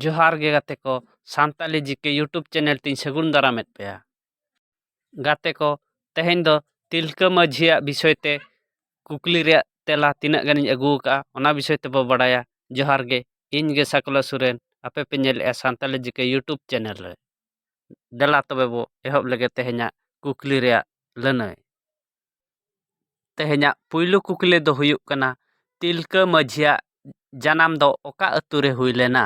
ᱡᱚᱦᱟᱨ ᱜᱮ ᱜᱟᱛᱮ ᱠᱚ Santali G K YouTube channel ᱛᱤᱧ ᱥᱟᱹᱜᱩᱱ ᱫᱟᱨᱟᱢᱮᱫ ᱯᱮᱭᱟ ᱜᱟᱛᱮ ᱠᱚ ᱛᱮᱦᱮᱧ ᱫᱚ ᱛᱤᱞᱠᱟᱹ ᱢᱟᱹᱡᱷᱤᱭᱟᱜ ᱵᱤᱥᱚᱭ ᱛᱮ ᱠᱩᱠᱞᱤ ᱨᱮᱭᱟᱜ ᱛᱮᱞᱟ ᱛᱤᱱᱟᱹᱜ ᱜᱟᱱᱤᱧ ᱟᱹᱜᱩ ᱟᱠᱟᱫᱼᱟ ᱚᱱᱟ ᱵᱤᱥᱚᱭ ᱛᱮᱵᱚ ᱵᱟᱲᱟᱭᱟ ᱡᱚᱦᱟᱨ ᱜᱮ ᱤᱧ ᱜᱮ ᱥᱟᱠᱞᱟ ᱥᱚᱨᱮᱱ ᱟᱯᱮ ᱯᱮ ᱧᱮᱞᱮᱫᱼᱟ Santali G K YouTube channel ᱨᱮ ᱫᱮᱞᱟ ᱛᱚᱵᱮ ᱵᱚ ᱮᱦᱚᱵ ᱞᱮᱜᱮ ᱛᱮᱦᱮᱧᱟᱜ ᱠᱩᱠᱞᱤ ᱨᱮᱭᱟᱜ ᱞᱟᱹᱱᱟᱹᱭ ᱛᱮᱦᱮᱧᱟᱜ ᱯᱩᱭᱞᱩ ᱠᱩᱠᱞᱤ ᱫᱚ ᱦᱩᱭᱩᱜ ᱠᱟᱱᱟ ᱛᱤᱞᱠᱟᱹ ᱢᱟᱹᱡᱷᱤᱭᱟᱜ ᱡᱟᱱᱟᱢ ᱫᱚ ᱚᱠᱟ ᱟᱹᱛᱩ ᱨᱮ ᱦᱩᱭ ᱞᱮᱱᱟ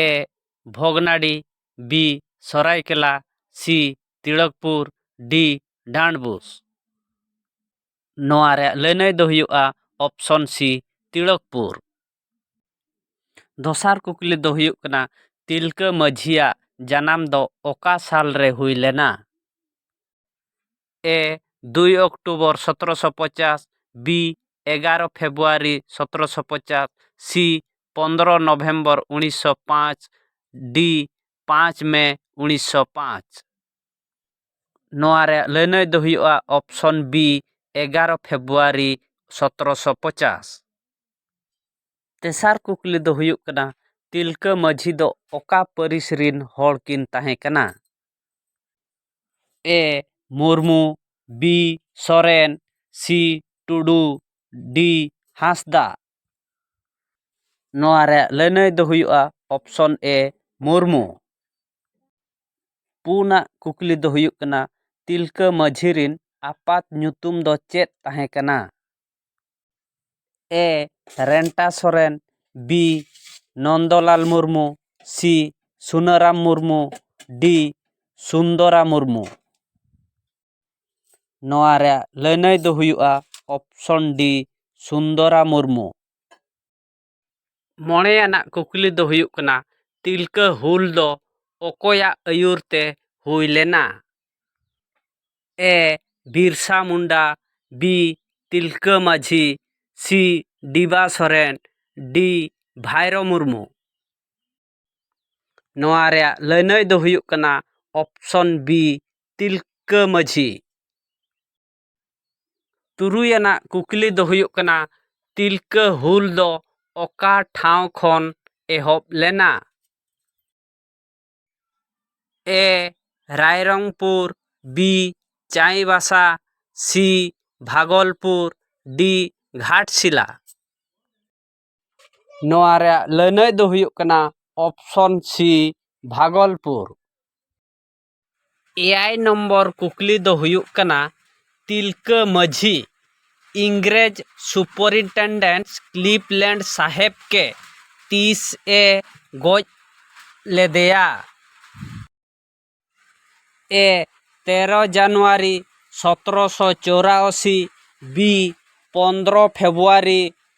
ᱮ ᱵᱷᱚᱜᱽᱱᱟᱰᱤ ᱵᱤ ᱥᱚᱨᱟᱭᱠᱮᱞᱞᱟ ᱥᱤ ᱛᱤᱲᱚᱠᱯᱩᱨ ᱰᱤ ᱰᱟᱱᱰᱵᱳᱥ ᱱᱚᱣᱟ ᱨᱮᱭᱟᱜ ᱞᱟᱹᱱᱟᱹᱭ ᱫᱚ ᱦᱩᱭᱩᱜᱼᱟ ᱚᱯᱷᱥᱚᱱ ᱥᱤ ᱛᱤᱲᱚᱠᱯᱩᱨ ᱫᱚᱥᱟᱨ ᱠᱩᱠᱞᱤ ᱫᱚ ᱦᱩᱭᱩᱜ ᱠᱟᱱᱟ ᱛᱤᱞᱠᱟᱹ ᱢᱟᱹᱡᱷᱤᱭᱟᱜ ᱡᱟᱱᱟᱢ ᱫᱚ ᱚᱠᱟ ᱥᱟᱞ ᱨᱮ ᱦᱩᱭ ᱞᱮᱱᱟ ᱮ ᱫᱩᱭ ᱚᱠᱴᱳᱵᱚᱨ ᱥᱚᱛᱨᱚ ᱥᱚ ᱯᱚᱪᱟᱥ ᱵᱤ ᱮᱜᱟᱨᱚ ᱯᱷᱮᱵᱽᱨᱩᱣᱟᱨᱤ ᱥᱚᱛᱨᱚ ᱥᱚ ᱯᱚᱪᱟᱥ ᱥᱤ ᱯᱚᱸᱫᱽᱨᱚ ᱱᱚᱵᱷᱮᱢᱵᱚᱨ ᱩᱱᱤᱥ ᱥᱚ ᱯᱟᱸᱪ ᱰᱤ ᱯᱟᱸᱪ ᱢᱮ ᱩᱱᱤᱥ ᱥᱚ ᱯᱟᱸᱪ ᱱᱚᱣᱟ ᱨᱮᱭᱟᱜ ᱞᱟᱹᱱᱟᱹᱭ ᱫᱚ ᱦᱩᱭᱩᱜᱼᱟ ᱚᱯᱥᱚᱱ ᱵᱤ ᱮᱜᱟᱨᱚ ᱯᱷᱮᱵᱽᱨᱩᱣᱟᱨᱤ ᱥᱚᱛᱨᱚ ᱥᱚ ᱯᱚᱪᱟᱥ ᱛᱮᱥᱟᱨ ᱠᱩᱠᱞᱤ ᱫᱚ ᱦᱩᱭᱩᱜ ᱠᱟᱱᱟ ᱛᱤᱞᱠᱟᱹ ᱢᱟᱹᱡᱷᱤ ᱫᱚ ᱚᱠᱟ ᱯᱟᱹᱨᱤᱥ ᱨᱤᱱ ᱦᱚᱲ ᱠᱤᱱ ᱛᱟᱦᱮᱸ ᱠᱟᱱᱟ A Murmu B Soren C Tudu D Hansda ᱱᱚᱣᱟ ᱨᱮᱭᱟᱜ ᱞᱟᱹᱱᱟᱹᱭ ᱫᱚ ᱦᱩᱭᱩᱜᱼᱟ ᱚᱯᱥᱚᱱ ᱮ ᱢᱩᱨᱢᱩ ᱯᱩᱱᱟᱜ ᱠᱩᱠᱞᱤ ᱫᱚ ᱦᱩᱭᱩᱜ ᱠᱟᱱᱟ ᱛᱤᱞᱠᱟᱹ ᱢᱟᱹᱡᱷᱤ ᱨᱮᱱ ᱟᱯᱟᱛ ᱧᱩᱛᱩᱢ ᱫᱚ ᱪᱮᱫ ᱛᱟᱦᱮᱸ ᱠᱟᱱᱟ A Renta Soren B Nandalal Murmu C Sunaram Murmu D Sundara Murmu ᱱᱚᱣᱟ ᱨᱮᱭᱟᱜ ᱞᱟᱹᱱᱟᱹᱭ ᱫᱚ ᱦᱩᱭᱩᱜᱼᱟ ᱚᱯᱥᱚᱱ ᱰᱤ ᱥᱩᱱᱫᱚᱨᱟ ᱢᱩᱨᱢᱩ ᱢᱚᱬᱮᱭᱟᱱᱟᱜ ᱠᱩᱠᱞᱤ ᱫᱚ ᱦᱩᱭᱩᱜ ᱠᱟᱱᱟ ᱛᱤᱞᱠᱟᱹ ᱦᱩᱞ ᱫᱚ ᱚᱠᱚᱭᱟᱜ ᱟᱹᱭᱩᱨ ᱛᱮ ᱦᱩᱭ ᱞᱮᱱᱟ A Birsa Munda B Tilka Majhi C ᱰᱤᱵᱟ Soren ᱰᱤ ᱵᱷᱟᱭᱨᱳ ᱢᱩᱨᱢᱩ ᱱᱚᱣᱟ ᱨᱮᱭᱟᱜ ᱞᱟᱹᱱᱟᱹᱭ ᱫᱚ ᱦᱩᱭᱩᱜ ᱠᱟᱱᱟ ᱚᱯᱷᱥᱚᱱ ᱵᱤ ᱛᱤᱞᱠᱟᱹ ᱢᱟᱹᱡᱷᱤ ᱛᱩᱨᱩᱭ ᱟᱱᱟᱜ ᱠᱩᱠᱞᱤ ᱫᱚ ᱦᱩᱭᱩᱜ ᱠᱟᱱᱟ ᱛᱤᱞᱠᱟᱹ ᱦᱩᱞ ᱫᱚ ᱚᱠᱟ ᱴᱷᱟᱶ ᱠᱷᱚᱱ ᱮᱦᱚᱵ ᱞᱮᱱᱟ A Rairangpur B Chaibasa C Bhagalpur D Ghatshila ᱱᱚᱣᱟ ᱨᱮᱭᱟᱜ ᱞᱟᱹᱱᱟᱹᱭ ᱫᱚ ᱦᱩᱭᱩᱜ ᱠᱟᱱᱟ ᱚᱯᱷᱥᱚᱱ ᱥᱤ ᱵᱷᱟᱜᱚᱞᱯᱩᱨ ᱮᱭᱟᱭ ᱱᱚᱢᱵᱚᱨ ᱠᱩᱠᱞᱤ ᱫᱚ ᱦᱩᱭᱩᱜ ᱠᱟᱱᱟ ᱛᱤᱞᱠᱟᱹ ᱢᱟᱹᱡᱷᱤ ᱤᱝᱨᱮᱡᱽ ᱥᱩᱯᱚᱨᱤᱱᱴᱮᱱᱰᱮᱱᱴ ᱠᱞᱤᱯᱞᱮᱱᱰ ᱥᱟᱦᱮᱵᱽ ᱠᱮ ᱛᱤᱥ ᱮ ᱜᱚᱡ ᱞᱮᱫᱮᱭᱟ ᱮ ᱛᱮᱨᱚ ᱡᱟᱱᱩᱣᱟᱨᱤ ᱥᱚᱛᱨᱚ ᱥᱚ ᱪᱳᱨᱟᱥᱤ ᱵᱤ ᱯᱚᱱᱫᱨᱚ ᱯᱷᱮᱵᱽᱨᱩᱣᱟᱨᱤ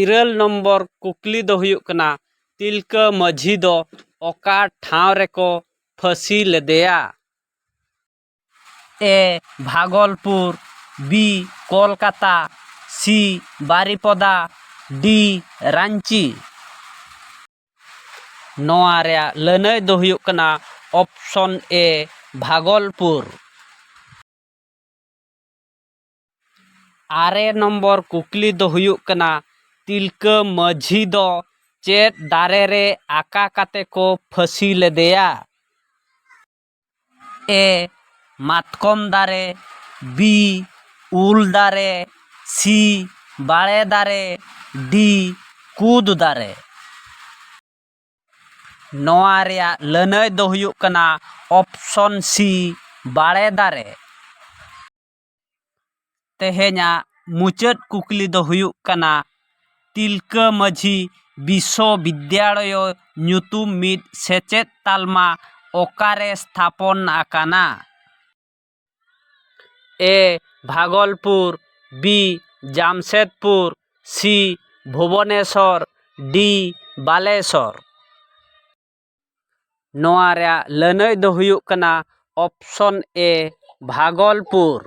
ᱤᱨᱟᱹᱞ ᱱᱚᱢᱵᱚᱨ ᱠᱩᱠᱞᱤ ᱫᱚ ᱦᱩᱭᱩᱜ ᱠᱟᱱᱟ ᱛᱤᱞᱠᱟᱹ ᱢᱟᱹᱡᱷᱤ ᱫᱚ ᱚᱠᱟ ᱴᱷᱟᱶ ᱨᱮᱠᱚ ᱯᱷᱟᱹᱥᱤ ᱞᱮᱫᱮᱭᱟ A Bhagalpur B Kolkata C Baripada D Ranchi ᱱᱚᱣᱟ ᱨᱮᱭᱟᱜ ᱞᱟᱹᱱᱟᱹᱭ ᱫᱚ ᱦᱩᱭᱩᱜ ᱠᱟᱱᱟ ᱚᱯᱷᱥᱚᱱ ᱮ ᱵᱷᱟᱜᱚᱞᱯᱩᱨ ᱟᱨᱮ ᱱᱚᱢᱵᱚᱨ ᱠᱩᱠᱞᱤ ᱫᱚ ᱦᱩᱭᱩᱜ ᱠᱟᱱᱟ ᱛᱤᱞᱠᱟᱹ ᱢᱟᱹᱡᱷᱤ ᱫᱚ ᱪᱮᱫ ᱫᱟᱨᱮ ᱨᱮ ᱟᱠᱟ ᱠᱟᱛᱮ ᱠᱚ ᱯᱷᱟᱹᱥᱤ ᱞᱮᱫᱮᱭᱟ ᱮ ᱢᱟᱛᱠᱚᱢ ᱫᱟᱨᱮ ᱵᱤ ᱩᱞ ᱫᱟᱨᱮ ᱥᱤ ᱵᱟᱲᱮ ᱫᱟᱨᱮ ᱰᱤ ᱠᱩᱫ ᱫᱟᱨᱮ ᱱᱚᱣᱟ ᱨᱮᱭᱟᱜ ᱞᱟᱹᱱᱟᱹᱭ ᱫᱚ ᱦᱩᱭᱩᱜ ᱠᱟᱱᱟ ᱚᱯᱷᱥᱚᱱ ᱥᱤ ᱵᱟᱲᱮ ᱫᱟᱨᱮ ᱛᱮᱦᱮᱧᱟᱜ ᱢᱩᱪᱟᱹᱫ ᱠᱩᱠᱞᱤ ᱫᱚ ᱦᱩᱭᱩᱜ ᱠᱟᱱᱟ ᱛᱤᱞᱠᱟᱹ ᱢᱟᱹᱡᱷᱤ ᱵᱤᱥᱥᱚ ᱵᱤᱫᱽᱫᱟᱲᱚᱭᱚ ᱧᱩᱛᱩᱢ ᱢᱤᱫ ᱥᱮᱪᱮᱫ ᱛᱟᱞᱢᱟ ᱚᱠᱟᱨᱮ ᱥᱛᱷᱟᱯᱚᱱ ᱟᱠᱟᱱᱟ A Bhagalpur B Jamshedpur C Bhubaneswar D Balasore ᱱᱚᱣᱟ ᱨᱮᱭᱟᱜ ᱞᱟᱹᱱᱟᱹᱭ ᱫᱚ ᱦᱩᱭᱩᱜ ᱠᱟᱱᱟ ᱚᱯᱥᱚᱱ ᱮ ᱵᱷᱟᱜᱚᱞᱯᱩᱨ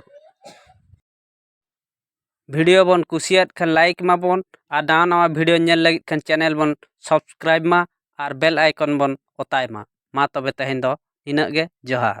ᱵᱷᱤᱰᱤᱭᱳ ᱵᱚᱱ ᱠᱩᱥᱤᱭᱟᱫ ᱠᱷᱟᱱ ᱞᱟᱭᱤᱠ ᱢᱟᱵᱚᱱ ᱟᱨ ᱱᱟᱣᱟ ᱱᱟᱣᱟ ᱵᱷᱤᱰᱤᱭᱳ ᱧᱮᱞ ᱞᱟᱹᱜᱤᱫ ᱠᱷᱟᱱ ᱪᱮᱱᱮᱞ ᱵᱚᱱ ᱥᱟᱵᱥᱠᱨᱟᱭᱤᱵᱽ ᱢᱟ ᱟᱨ ᱵᱮᱞ ᱟᱭᱠᱚᱱ ᱵᱚᱱ ᱚᱛᱟᱭ ᱢᱟ ᱢᱟ ᱛᱚᱵᱮ ᱛᱮᱦᱮᱧ ᱫᱚ ᱤᱱᱟᱹᱜ ᱜᱮ ᱡᱚᱦᱟᱨ